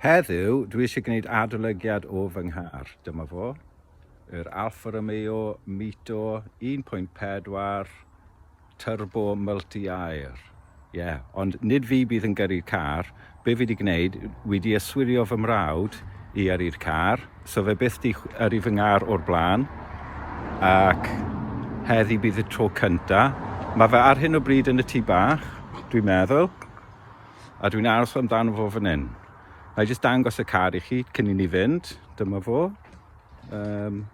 Heddiw, dwi eisiau gwneud adolygiad o fy nghar. Dyma fo, yr Alfa Romeo Mito 1.4 Turbo multi air. Ie, ond nid fi bydd yn gyrru'r car, be fi 'di gwneud, wi 'di yswirio fy mrawd i yrru'r car, so fe byth 'di yrru fy ngar o'r blaen, ac heddi bydd y tro cynta. Mae fe ar hyn o bryd yn y tŷ bach, dwi'n meddwl, a dwi'n aros amdano fo fan hyn. Na i jyst dangos y car i chi cyn i ni fynd, dyma fo. Um,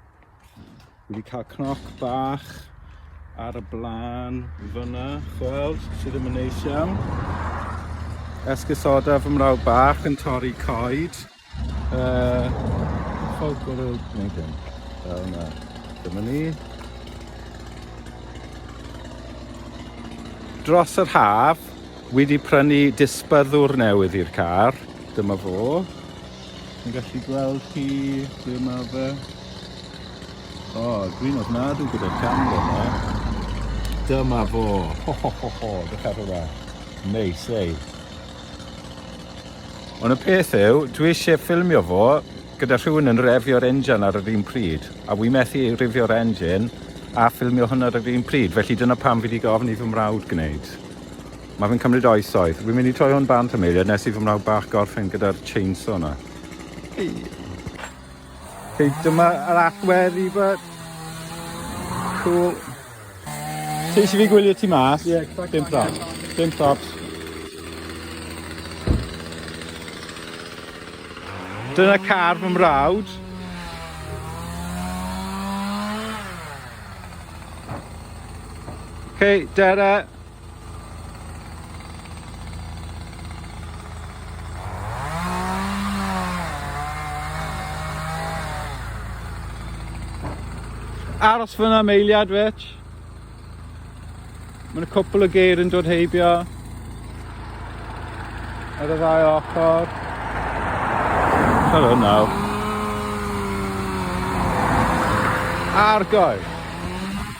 Wedi cael cnoc bach ar y blaen fyna, chweld, sydd ddim yn neis iawn. Esgusoda fy mrawd bach yn torri coed. Uh, Chol gwrw, neu ddim. Fel yna. Dyma ni. Dros yr haf, wedi prynu disbyddwr newydd i'r car. Dyma fo. Chi'n gallu gweld hi, ble ma fe? O, oh, dwi'n ofnadw gyda camera yma. Dyma fo. Ho, ho, ho, ho. Dych ar hwnna. Neis, ei. Ond y peth yw, dwi eisiau ffilmio fo gyda rhywun yn refio'r engine ar yr un pryd, a wy methu rifio'r engine a ffilmio hwnna ar yr un pryd, felly dyna pam fi wedi gofyn i fy mrawd gwneud. Mae fe'n cymryd oesoedd. Wi'n mynd i troi hwn bant am eiliad nes i fy mrawd bach gorffen gyda'r chainsaw yna. Hei, dyma yr allwedd i fy... Cool. Ti eisiau fi gwylio ti mas? Ie, yeah, Dim props. Dim props. Dyna car fy mrawd. Okay, Dere. aros fyna am eiliad fetch. Mae'n cwpl o geir yn dod heibio ar y ddau ochr. Hello now. Argoi.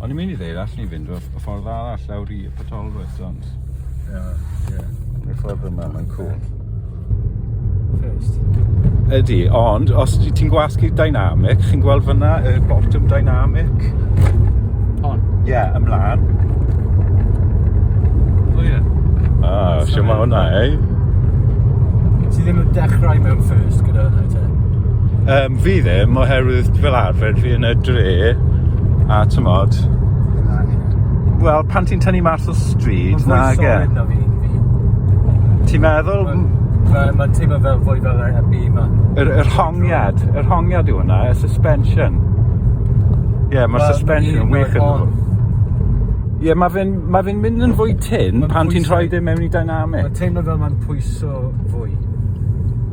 O'n i'n mynd i ddeud, allan ni fynd o'r ffordd arall lawr i y Potolwys, ond... Ie, ie. Y ffordd yma, mae'n cool. First. Ydy, ond os ti'n gwasgu dynamic, chi'n gweld fyna y bottom dynamic? Hon? Ie, yeah, ymlaen. O ie. Ah, siw mae hwnna, ei? Ti ddim yn dechrau mewn first gyda hwnna, te? Um, fi ddim, oherwydd fel arfer fi yn y dre, a tymod... Wel, pan ti'n tynnu mas o stryd, na ge. Mae'n fwy solid na fi. Ti'n meddwl? Mae'n ma teimlo fel fwy fel yr heb yma. Yr, yr hongiad, yr hongiad yw hwnna, y suspension. Ie, yeah, mae'r well, suspension yn wych yn hwnna. Ie, yeah, mae fe'n ma fe mynd yn fwy tyn pan ti'n rhoi dim e mewn i dynamic. Mae'n teimlo fel mae'n pwyso fwy.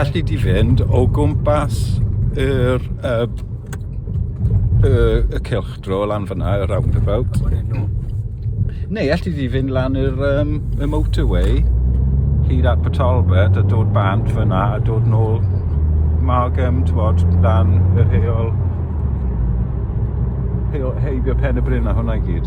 alli di fynd o gwmpas yr uh, uh, y cylch dro lan fyna, y roundabout. Neu alli di fynd lan yr, um, y motorway hyd at Patalbert a dod bant fyna a dod nôl Margam, twod, lan yr heol heibio pen y bryn a hwnna i gyd.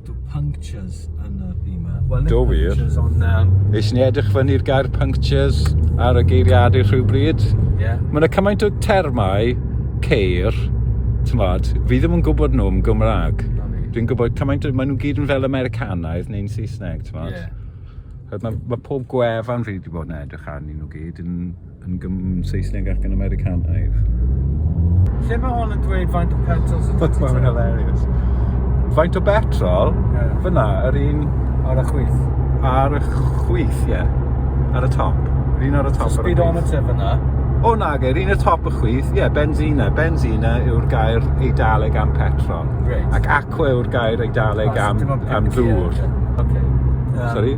Do punctures yn y bima. Wel, Do wir. On, um... Nes ni edrych fyny'r gair punctures ar y geiriadur rhywbryd. Yeah. Mae yna cymaint o termau ceir, tymod, fi ddim yn gwybod nhw yn Gymraeg. Dwi'n gwybod cymaint, maen nhw gyd yn fel Americanaidd neu'n Saesneg, ti'n Yeah. Mae, mae pob gwefan fi wedi bod yn edrych arnyn nhw gyd yn Yn gym Saesneg ac yn Americanaidd. Lle mae hwn yn dweud faint o petrol sy'n dod Mae'n hilarious. Faint o betrol? Yeah. Fyna, yr un... Ar y chwith. Ar y chwith, ie. Yeah. Ar y top. Yr un ar y top. So speedometer fyna. O na, ge, yr un y top y chwith, ie, yeah, benzina. Benzina yw'r gair eidaleg am petrol. Right. Ac aqua yw'r gair eidaleg am, am ddŵr. Okay. Um, Sorry?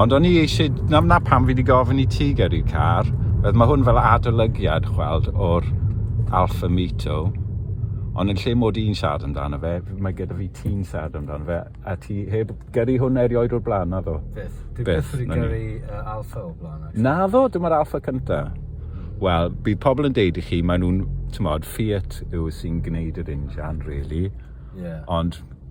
Ond o'n i eisiau, na, na pam fi wedi gofyn i ti gyrru car, oedd mae hwn fel adolygiad, chweld, o'r Alfa Mito, ond yn lle mod i'n siarad amdano fe, mae gyda fi ti'n siarad amdano fe, a ti heb gyrru hwn erioed o'r blaen, na ddo? Beth? Dwi beth wedi gyrru uh, Alfa o'r blaen. Actually. Na ddo, dyma'r Alfa cynta. Wel, bydd pobl yn deud i chi, maen nhw'n, ti'n modd, Fiat yw sy'n gwneud yr injan, really. Yeah. Ond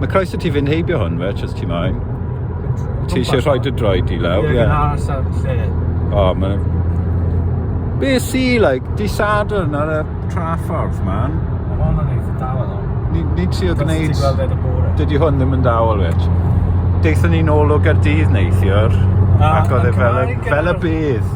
Mae croeso ti fynd heibio hwn fe, os ti moyn. Ti eisiau rhoi dy droed i lawr? Ie, yeah. ar sa'r lle. O, mae... Be si, like, di Sadwrn ar y traffordd, man? Mae hwn yn eitha dawel o. Ni, ni ti o gwneud... Dydy hwn ddim yn dawel, wech. Deithon ni'n ôl o Gardydd neithiwr, ac oedd e fel, fel y bydd.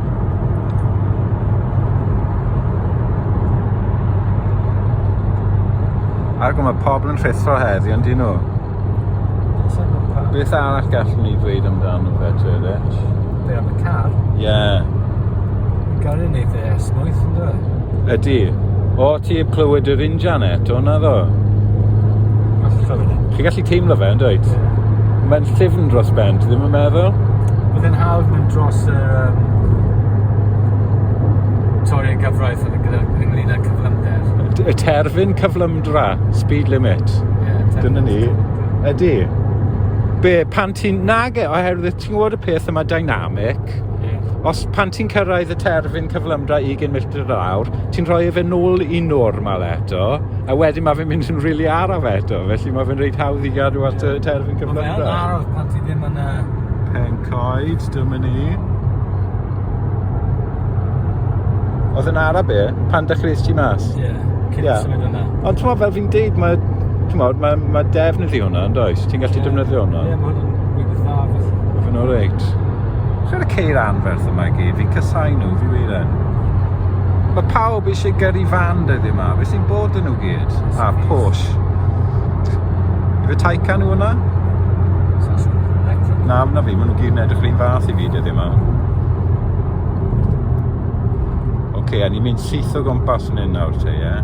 Ac mae pobl yn rhithro heddi, ond dyn nhw. Beth arall gallwn ni dweud amdano fe, Tyrich? Be am y car? Ie. Yeah. Gan yn neud e esmwyth, yn dweud? Ydy. O, ti heb clywed yr injan eto, na ddo? Chi gallu Teimlo fe, yn dweud? Mae'n llyfn dros ben, ti ddim yn meddwl? Bydd yn hawdd mynd dros y um, toriau gyfraith oedd gyda ynglyn â cyflymder. Y terfyn cyflymdra, speed limit. Yeah, Dyna ni. Ydy. Be, pan ti'n nage oherwydd ti'n gwybod y peth yma dynamic, os pan ti'n cyrraedd y terfyn cyflymdra 20 milltir yr awr, ti'n rhoi efe nôl i normal eto, a wedyn mae fe'n mynd yn rili araf eto, felly mae fe'n reit hawdd i gadw at y terfyn cyflymdra. Mae'n araf pan ti ddim yn... Pen coed, dyma ni. Oedd yn araf be? Pan dechreuais ti mas? Ie, yeah, cyn yeah. symud yna. Ond ti'n fel fi'n deud, mae, ti'n mae, mae defnydd i hwnna, yn does? Ti'n gallu yeah. defnyddio hwnna? Ie, yeah, mae hwnna'n Yn o'r reit. Lle y ceir anferth yma i gyd? Fi'n casau nhw, fi wir yn. Mae pawb eisiau gyrru fan dyddi yma. Fe sy'n bod yn nhw gyd? A Porsche. Fe Taycan nhw hwnna? Na, na fi, maen nhw gyd yn edrych rhywun fath i fi dyddi yma. Oce, okay, a ni'n mynd syth o gwmpas yn hyn nawr te, ie? Yeah?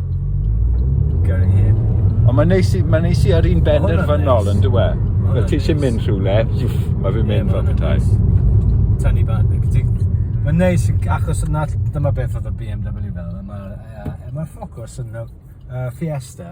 Gael ei hen. Ond mae'n neis, i- mae'n neis i ar un benderfynol yn dywe. Fel ti eisiau mynd rhywle, wff, mae fi'n mynd fel petai. Tani bach. Mae'n neis yn- achos na dyma beth oedd y BMW fel, a mae'r yy, a mae'r Focus yn fel yy Fiesta.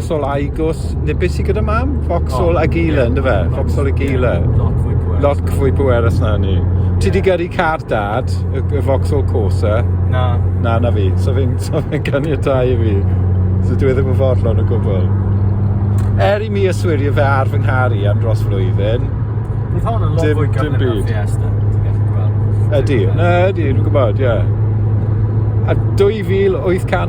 Foxhole a'i gwrs, neu beth sydd gyda mam? Foxhole oh, a Gila, yeah, ynddo fe? Foxhole a Gila. Yeah, lot fwy pwerus na ni. Yeah. Ti di gyrru car dad, y, y Foxhole Corsa? Na. Na, na fi. So fi'n so fi ganiatau i fi. So dwi e ddim yn fodlon o gwbl. Er i mi yswirio fe ar fy nghar i am dros flwyddyn. Bydd hon yn lot fwy gyflym o'r Fiesta. Ydy, na ydy, dwi'n gwybod, ie. Yeah. A 2800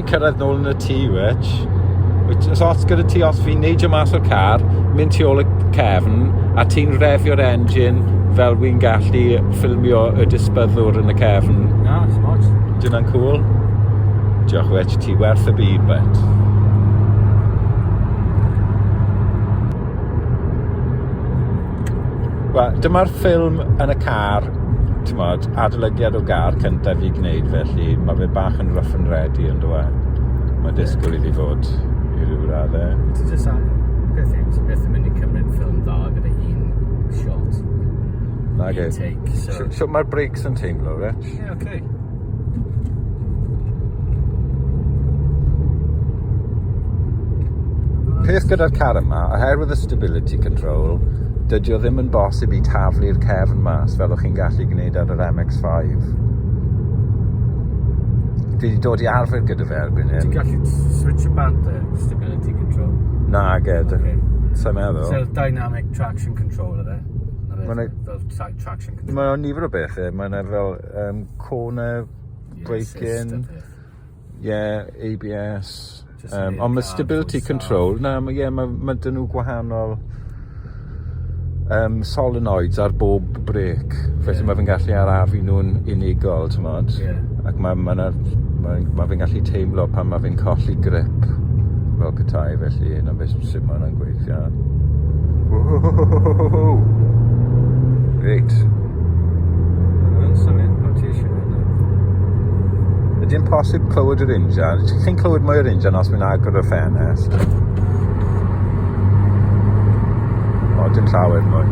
Cyrraedd nôl yn y tŷ, which, which os ots gyda ti, os fi'n neidio mas o'r car, mynd tu ôl y cefn, a ti'n refio'r engine fel wy'n gallu ffilmio y disbyddwr yn y cefn. Na, os ots. Dyna'n cool. Diolch, which, ti werth y byd, bet. Wel, dyma'r ffilm yn y car t'mod, adolygiad o gar cyntaf i gwneud felly mae fe bach yn rough and ready yn e? Mae disgwyl iddi fod i ryw radde. Ti jyst am beth yw, ti beth yn mynd i cymryd ffilm dda gyda un shot. Nage. Take, so... so, so mae'r breaks yn teimlo, reit? Ie, yeah, oce. Okay. peth gyda'r car yma, oherwydd y stability control, dydy o ddim yn bosib i taflu'r cefn mas fel o'ch chi'n gallu gwneud ar yr MX-5. Dwi wedi dod i arfer gyda fe erbyn hyn. Ti'n gallu switch y band e, stability control? Na, ged. Okay. Sa'n meddwl. So, dynamic traction control yna. Mae'n fel traction control. Mae'n nifer o bethau. Mae'n fel Um, corner, braking, yeah, ABS. Um, ond mae stability control, na, mae yeah, ma, ma dyn nhw gwahanol um, solenoids ar bob brec. Felly yeah. mae fe'n gallu arafu nhw'n unigol, ti'n modd. Yeah. Ac mae ma, ma, ma, ma fe'n gallu teimlo pan mae fe'n colli grip fel gytai, felly yna beth sy'n symud yna'n gweud. Reit. Mae'n symud pan ti eisiau mynd. Ydy'n posib clywed yr injan? Ti'n clywed mwy o'r injan os mae'n agor y ffenest? O, dim llawer mwy.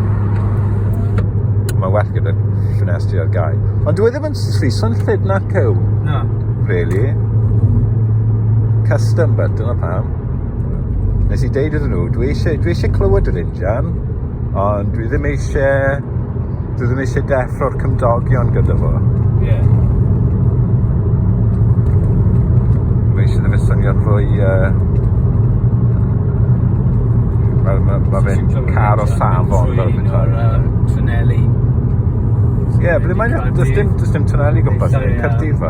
Mae well gyda'r ffenestri ar gau. Ond dwi e ddim yn lliso'n llyd na cyw. Na. Really? Custom but dyna pam. nes i deud iddyn nhw, dwi eisiau, dwi eisiau clywed yr injan, ond dwi ddim eisiau, dwi ddim eisiau deffro'r cymdogion gyda fo. Ie. Yeah. Mae eisiau ddim swnio'n fwy... Uh, mae ma, ma fe'n car o safon fel bethau. Twneli. Ie, ble mae'n... Does dim, does dim twneli gwmpas, Cyrdydd fa.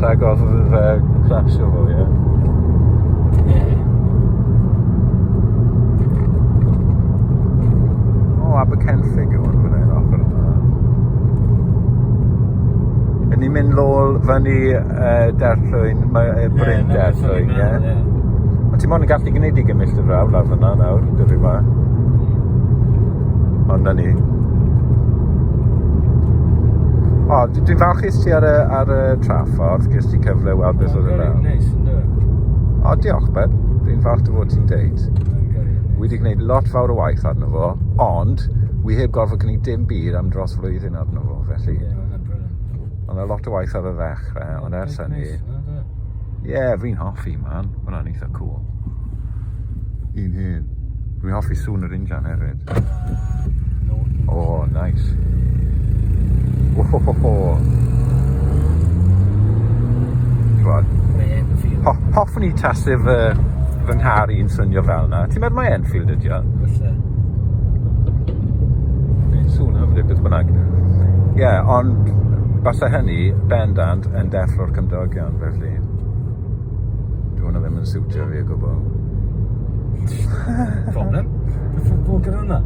Rhagodd fe crasio fo ie? Ie. O Abercennllyd yw hwn fan 'yn ochor yma. Ry'n ni'n mynd nôl fyny yy Derllwyn mae yy Bryn Derllwyn ie? Ond ti mond yn gallu gwneud i gymell dy frawd lawr fyna nawr, dyfu ma. Ond na ni. O, dwi'n falch Ges ti ar y, ar y traffordd, ges ti cyfle i weld beth oedd yna? Mae'n neis, ynddo? O, diolch, Ben. Dwi'n falch dy fod ti'n deud. Wi wedi gwneud lot fawr o waith arno fo, ond wi heb gorfod gwneud dim byd am dros flwyddyn arno fo, felly... Ie, mae'n brilliant. Ond lot o waith ar y ddechrau, ond ers hynny... Ie, fi'n hoffi, man. Mae'n eitha cool. Un hyn. Dwi'n hoffi sŵn yr injan hefyd. Oh, nice. Ohohoho. Chwad. Ho hoffwn i tasu fy, fy nghar i'n swnio fel yna. Ti'n meddwl mae Enfield ydi o? Fylle. Sŵn hyfryd beth bynnag. Ie, yeah, ond basau hynny bendant yn deffro'r cymdogion felly. Dwi'n hwnna ddim yn siwtio fi o gwbl. Problem? Beth yw'r bwg yn hwnna?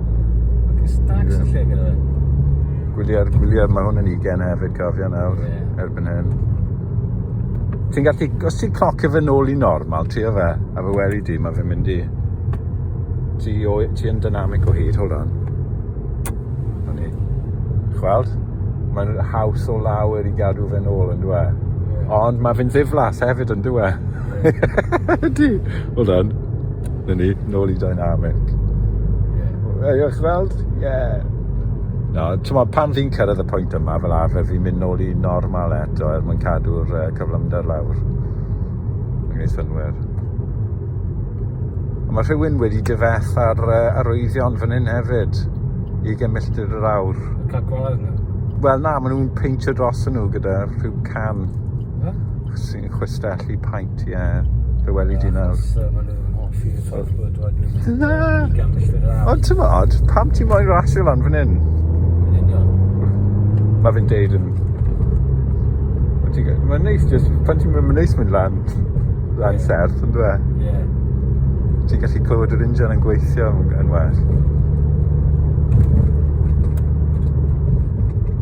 Ac stags y lle gyda fe. Gwyliau'r gwyliau, mae hwn yn ugen hefyd cofio nawr, yeah. erbyn hyn. Ti'n gallu, os ti'n clocio fe nôl i normal, ti o fe, a fe weli di, mae fe'n mynd i... Ti, o, ti yn dynamic o hyd, hold on. 'Na ni. Dych weld? Mae'n haws o lawer i gadw fe'n ôl on'd yw e? Ie. Ond ma' fe'n ddiflas hefyd on'd yw e? Ydi. Hold on. 'Na ni, nôl i dynamic. Ie. Yy dych weld? Ie. Na, t'mod pan fi'n cyrraedd y pwynt yma fel arfer fi'n mynd nôl i normal eto er mwyn cadw'r yy cyflymder lawr. Mae'n gwneud synnwyr. Mae rhywun wedi dyfeth ar uh, arwyddion fan hyn hefyd i gymilltir yr awr. Wel na, maen nhw'n peintio dros nhw gyda rhyw can sy'n chwistellu paint, ie. Yeah. Fe weli di nawr. Na! Ond ti'n modd, pam ti'n moyn rasio lan fan hyn? Mae fi'n deud yn... Mae'n neis, pan ti'n mynd, mae'n neis mynd lan. Rhan serth yn dwe? Ie. Yeah. Ti'n gallu clywed yr injan yn gweithio yn well.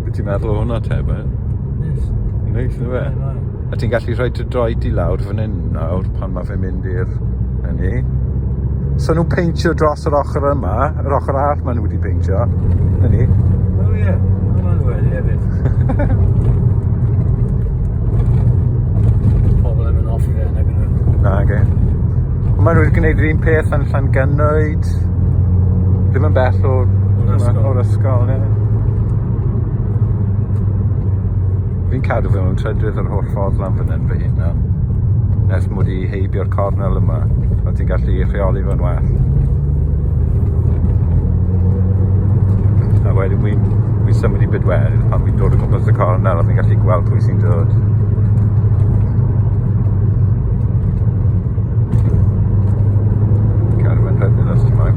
Wyt ti'n meddwl o hwnna te, be? Neis. Neis, yn dwe? A ti'n gallu rhoi dy droed i lawr fan hyn nawr pan mae fe mynd i'r hynny. So nhw'n peintio dros yr ochr yma, yr ochr arall maen nhw wedi peintio. Hynny. O ie, hwnna'n wedi hefyd. pobl ddim yn hoffi fe nag 'yn nw? Nage. Ma' nw wedi gneud yr un peth yn Llangynnwyd. Ddim yn bell o... O'r ysgol. O'r ysgol ie. Fi'n cadw fe mewn trydedd yr holl ffordd lan fyn 'yn fy hunan. Ers mod i heibio'r cornel yma a ti'n gallu rheoli fo'n well. A wedyn wi'n wi symud i bydwer pan wi'n dod o gwmpas y cornel a fi'n gallu gweld pwy sy'n dod. Carwyn rhedyn os ti'n moyn.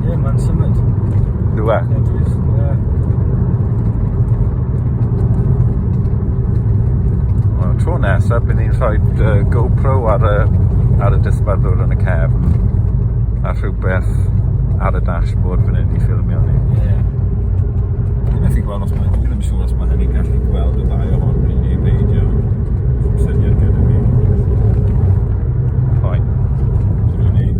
Ie, mae'n symud. Dwi e? Ie, dwi. Ie. Wel, tro nesaf, bydd ni'n rhoi uh, GoPro ar y, ar y dysbadwr yn y cefn a rhywbeth ar y dashboard fan hyn i ffilmio ni. Yeah. Dwi'n methu gweld os mae, ddim yn siŵr os mae hynny'n gallu gweld y ddau o hon rili neu beidio. Syniad gyda fi. Fine. Dwi'n gwneud.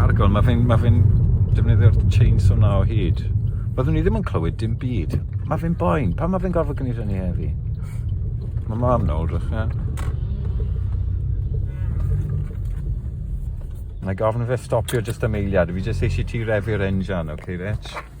Argon, mae fe'n ma fe defnyddio'r chainsaw na o hyd. Byddwn ni ddim yn clywed dim byd. Mae fe'n boen, pan mae fe'n gorfod gwneud hynny heddi? Mae mam na wrach, ie. Mae gofyn fe stopio jyst am eiliad, fi jyst eisiau ti refu'r engine, oce okay, Rich?